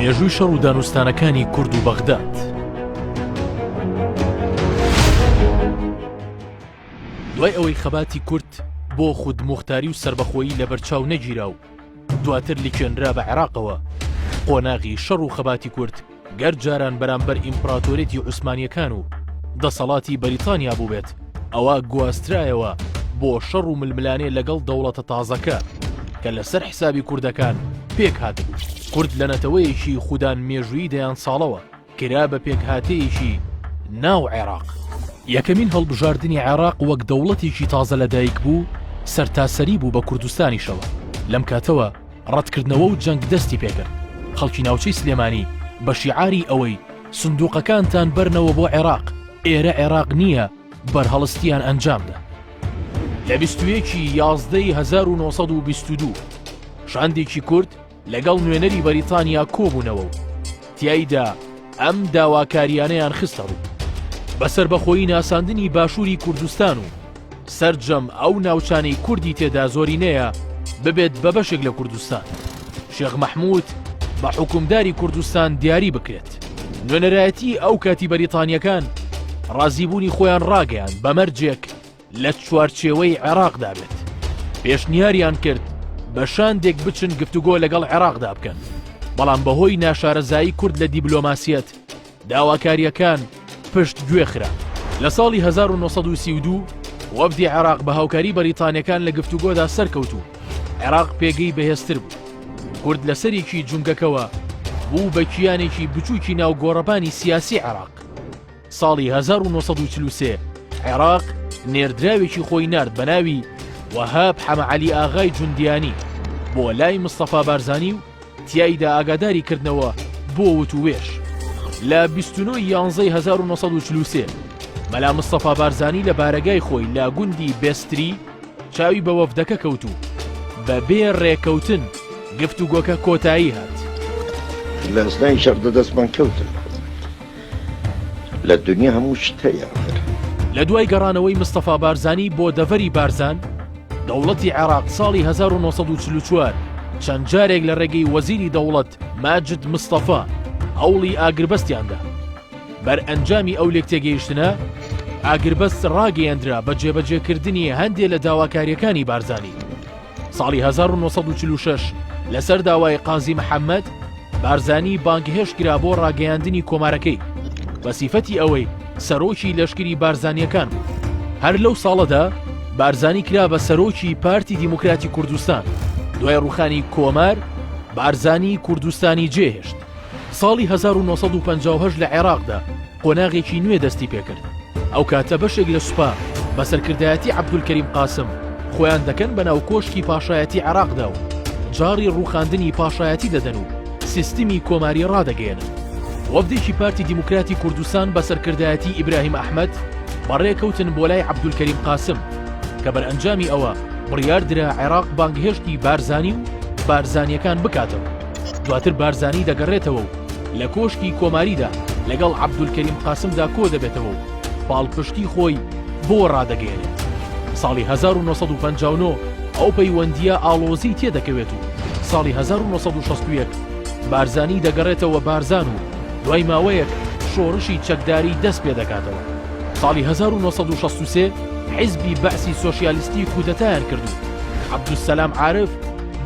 مێژووی شەڕ و دانوستانەکانی کورد و بەغداد. دوای ئەوەی خەباتی کورد بۆ خود مختاری و سربەخۆیی لە بەرچاو نەگیرا و دواتر لکێنرا بە عێراقەوە قۆناغی شەڕ و خەباتی کورد گەر جاران بەرامبەر ئیمپڕاتۆریەتی عوسمانیەکان و دەسەڵاتی بەریتانیا بووبێت، ئەوا گواسترایەوە بۆ شەڕ و ململانێ لەگەڵ دەوڵەتە تازەکە، کە لەسەر حسابی کوردەکان پێک هاتبوو. کورد لە نەتەوەیەکی خودان مێژوویی دەیان ساڵەوە، کرا بە پێکهاتەیەکی ناو عێراق. یەکەمین هەڵبژاردنی عێراق وەک دەوڵەتێکی تازە لەدایکبوو، سەرتاسەری بوو بە کوردستانیشەوە، لەم کاتەوە، ڕەتکردنەوە و جەنگ دەستی پێکرد خەڵکی ناوچەی سلێمانی بە شیعاری ئەوەی سندوقەکانتان بەرنەوە بۆ عێراق ئێرە عێراق نییە بەرهەڵستیان ئەنجامدا لە بیستویەکی یازدەی 1922 شاندێکی کورد لەگەڵ نوێنەری بەریتانیا کۆبوونەوە و تیایدا ئەم داواکاریانەیان خستەڕوو بە سەربەخۆیی ناساندنی باشووری کوردستان و سەرجەم ئەو ناوچانەی کوردی تێدا زۆرینەیە ببێت بە بەشێک لە کوردستان شێخ مەحموود بە حکومداری کوردستان دیاری بکرێت نوێنەرایەتی ئەو کاتی بەریتانیەکان ڕازیبوونی خۆیان ڕاگەیان بەمەرجێک لە چوارچێوەی عێراقدا بێت پێشنیاریان کرد بە شاندێک بچن گفتوگۆ لەگەڵ عێراقدا بکەن بەڵام بەهۆی ناشارەزایی کورد لە دیبلۆماسیەت داواکاریەکان پشت گوێ خرا لە ساڵی 1932 وەفدی عێراق بە هاوکاری بەریتانەکان لە گفتوگۆدا سەرکەوت و عێراق پێگەی بەهێزتر بوو کورد لەسەرێکی جونگەکەوە بوو بە کیانێکی بچووکی ناو گۆڕەبانی سیاسی عێراق ساڵی هەزار و نۆ سەد و چل و سێ عێراق نێردراوێکی خۆی نارد بە ناوی وەهاب حەمە عەلی ئاغای جوندیانی بۆ لای مستەفا بارزانی و تیایدا ئاگاداری کردنەوە بۆ وتووێژ لە بیست و نۆ ی یانزەی هەزار و نۆ سەد و چل و سێ مەلا مستەفا بارزانی لە بارەگای خۆی لە گوندی بێستری چاوی بە وەفدەکە کەوت و بە بێ ڕێکەوتن گفتوگۆکە کۆتایی هات. لە ئەسنای شەڕدا دەستمان کەوتن. لە دونیا هەموو شت هەیە ئەخر. لە دوای گەڕانەوەی مستەفا بارزانی بۆ دەڤەری بارزان، دەوڵەتی عێراق ساڵی هەزار و نۆ سەد و چل و چوار چەند جارێک لە ڕێگەی وەزیری دەوڵەت ماجد مستەفا هەوڵی ئاگربەستیان دا. بەرئەنجامی ئەو لێکتێگەیشتنە، ئاگربەست ڕاگەیەندرا بە جێبەجێکردنی هەندێ لە داواکارییەکانی بارزانی. ساڵی هەزار و نۆ سەد و چل و شەش لەسەر داوای قازی محەممەد، بارزانی بانگهێشت کرا بۆ ڕاگەیاندنی کۆمارەکەی، بە سیفەتی ئەوەی سەرۆکی لەشکری بارزانییەکان بوو. هەر لەو ساڵەدا بارزانی کرا بە سەرۆکی پارتی دیموکراتی کوردستان، دوای ڕووخانی کۆمار، بارزانی کوردستانی جێهێشت. ساڵی هەزار و نۆ سەد و پەنجا و هەشت لە عێراقدا قۆناغێکی نوێ دەستی پێکرد، ئەو کاتە بەشێک لە سوپا بە سەرکردایەتی عەبدولکەریم قاسم خۆیان دەکەن بە ناو کۆشکی پاشایەتی عێراقدا و جاڕی ڕووخاندنی پاشایەتی دەدەن و سیستمی کۆماری ڕادەگەیەنن. وەفدێکی پارتی دیموکراتی کوردستان بە سەرکردایەتی ئیبراهیم ئەحمەد بەڕێکەوتن بۆ لای عەبدولکەریم قاسم کە بەرئەنجامی ئەوە بڕیار درا عێراق بانگهێشتی بارزانی و بارزانییەکان بکاتەوە. دواتر بارزانی دەگەڕێتەوە و لە کۆشکی کۆماریدا لەگەڵ عەبدولکەریم قاسمدا کۆ دەبێتەوە و پاڵپشتی خۆی بۆ ڕادەگەیەنێت. ساڵی 1959 ئەو پەیوەندییە ئاڵۆزی تێ دەکەوێت و ساڵی 1961 بارزانی دەگەڕێتەوە بارزان و دوای ماوەیەک شۆڕشی چەکداری دەست پێ دەکاتەوە. ساڵی 1963 حیزبی بەعسی سۆسیالیستی کودەتایان کرد و عەبدولسەلام عارف،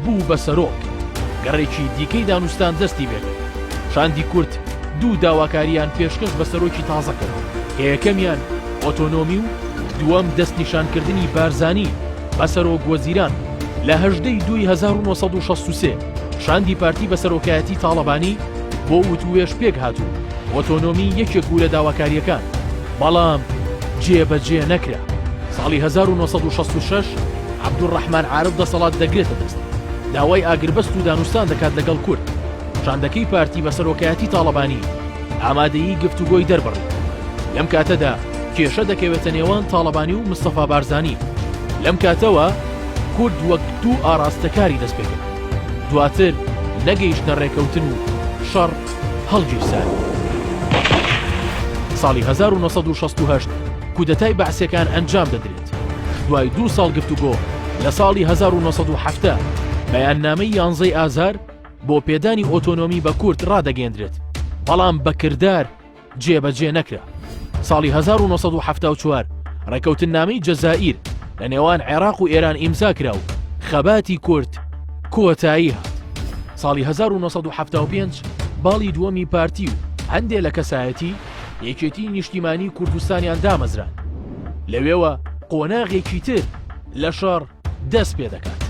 بوو بە سەرۆک، گەڕێکی دیکەی دانوستان دەستی بێگرت. شاندی کورد دوو داواکارییان پێشکەش بە سەرۆکی تازە کرد، کە یەکەمیان ئۆتۆنۆمی و دووەم دەستنیشانکردنی بارزانی بە سەرۆک وەزیران بوو. لە هەژدە ی دوی هەزار و نۆ سەد و شەست و سێ شاندی پارتی بە سەرۆکایەتی تاڵەبانی بۆ وتووێژ پێکهات و ئۆتۆنۆمی یەکێک بوو لە داواکارییەکان، بەڵام جێبەجێ نەکرا. ساڵی هەزار و نۆ سەد و شەست و شەش عەبدولڕەحمان عارف دەسەڵات دەگرێتە دەست، داوای ئاگربەست و دانوستان دەکات لەگەڵ کورد، شاندەکەی پارتی بە سەرۆکایەتی تاڵەبانی ئامادەیی گفتوگۆی دەربڕی. لەم کاتەدا کێشە دەکەوێتە نێوان تاڵەبانی و مستەفا بارزانی. لەم کاتەوە کورد وەک دوو ئاراستە کاری دەستپێکرد. دواتر نەگەیشتە رێکەوتن و شەڕ هەڵگیرساند. ساڵی هەزار و نۆ سەد و شەست و هەشت کودەتای بەعسیەکان ئەنجام دەدرێت. دوای دوو ساڵ گفتوگۆ لە ساڵی هەزار و نۆ سەد و حەفتا بەیاننامەی یانزەی ئازار بۆ پێدانی ئۆتۆنۆمی بە کورد ڕادەگەێندرێت بەڵام بە کردار جێبەجێ نەکرا ساڵی 1970 ڕێکەوتن نامی جەزائیر لە نێوان عێراق و ئێران ئیمزا کرا و خەباتی کورد کۆتایی هات ساڵی 1970 باڵی دووەمی پارتی و هەندێ لە کەسایەتی یەکێتی نیشتیمانی کوردستانیان دامەزران لەوێوە قۆناغێکی تر لە شەڕ دەست پێ دەکات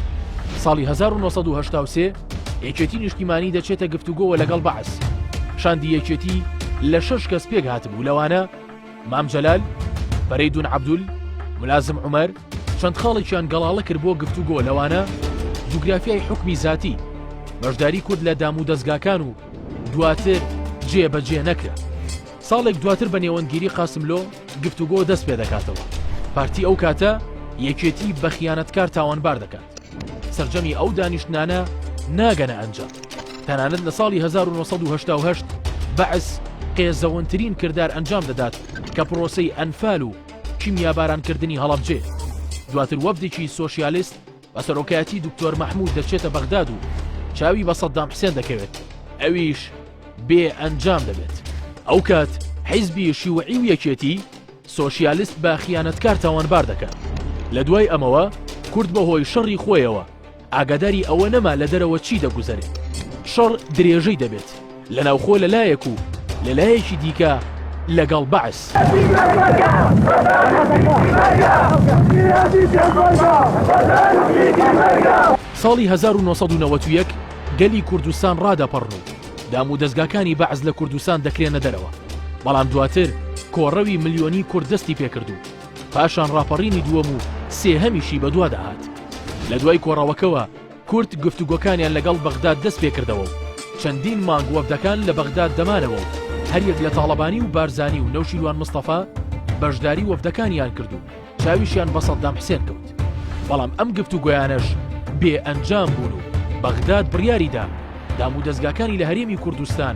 ساڵی 1970 یەکێتی نیشتیمانی دەچێتە گفتوگۆوە لەگەڵ بەعس شاندی یەکێتی لە شەش کەس پێک هاتبوو لەوانە مام جەلال بەرەی دون عبدول ملازم عمر چەند خاڵێکیان گەڵاڵە کرد بۆ گفتوگۆ لەوانە جوگرافیای حکومی زاتی، بەشداری کورد لە دام و دەزگاکان و دواتر جێ بەجێ نەکرا. ساڵێک دواتر بە نێوەندگیری قاسملۆ گفتوگۆ دەست پێ دەکاتەوە. پارتی ئەو کاتە یەکێتی بە خیانەتکار تاوانبار دەکات. سرجەمی ئەو دانیشتنانە ناگەنە ئەنجام. تەنانەت لە ساڵی 1970 بەعس قێزەونترین کردار ئەنجام دەدات کە پرۆسەی ئەنفال و کیمیابارانکردنی هەڵەبجەیە. دواتر وەفدێکی سۆشیالیست بە سەرۆکایەتی دوکتۆر مەحموود دەچێتە بەغداد و چاوی بە سەددام حسێن دەکەوێت، ئەویش بێ ئەنجام دەبێت. ئەوکات حیزبی شیوعی و یەکێتی سۆشیالیست بە خیانەتکار تاوانبار دەکەن. لە دوای ئەمەوە کورد بە هۆی شەڕی خۆیەوە، ئاگاداری ئەوە نەما لە دەرەوە چی دەگوزەرێت. شەڕ درێژەی دەبێت لە ناوخۆ لە لایەک و لە لایەکی دیکە لەگەڵ بەعس. ساڵی 1991 گەلی کوردستان ڕادەپەڕن و دام و دەزگاکانی بەعس لە کوردستان دەکرێنە دەرەوە، بەڵام دواتر کۆڕەوی ملیۆنی کورد دەستی پێکرد و، پاشان ڕاپەڕینی دووەم و سێهەمیشی بەدوادا هات. لە دوای کۆڕەوەکەوە کورد گفتوگۆکانیان لەگەڵ بەغداد دەست پێکردەوە و چەندین مانگ وەفدەکان لە بەغداد دەمانەوە و هەریەک لە تاڵەبانی و بارزانی و نەوشیروان مستەفا بەشداری وەفدەکانیان کرد و چاویشیان بە سەددام حسێن کەوت بەڵام ئەم گفتوگۆیانەش بێ ئەنجام بوون و بەغداد بڕیاریدا دامودەزگاکانی لە هەرێمی کوردستان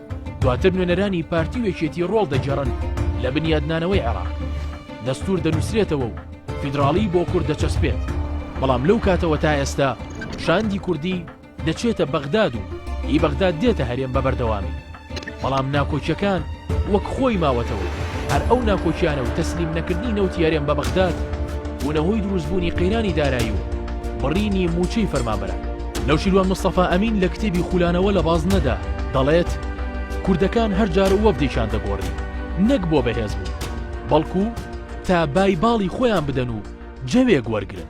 دواتر نوێنەرانی پارتی و یەکێتی ڕۆڵ دەگێڕن لە بنیادنانەوەی عێراق دەستور دەنووسرێتەوە و فیدراڵی بۆ کورد دەچەسپێت بەڵام لەو کاتەوە تا ئێستا شاندی کوردی دەچێتە بەغداد و ئی بەغداد دێتە هەرێم بە بەردەوامی بەڵام ناکۆکیەکان وەک خۆی ماوەتەوە هەر ئەو ناکۆکیانە و تەسلیم نەکردنی نەوتی هەرێم بە بەغداد بوونەهۆی دروستبوونی قەیرانی دارایی و بڕینی موچەی فەرمانبەران نەوشیروان مستەفا ئەمین لە کتێبی خولانەوە لە بازنەدا دەڵێت، کوردەکان هەر جار وەفدێکیان دەگۆڕی، نەک بۆ بەهێز بوون، بەڵکو تا بای باڵی خۆیان بدەن و جەوێک وەرگرن.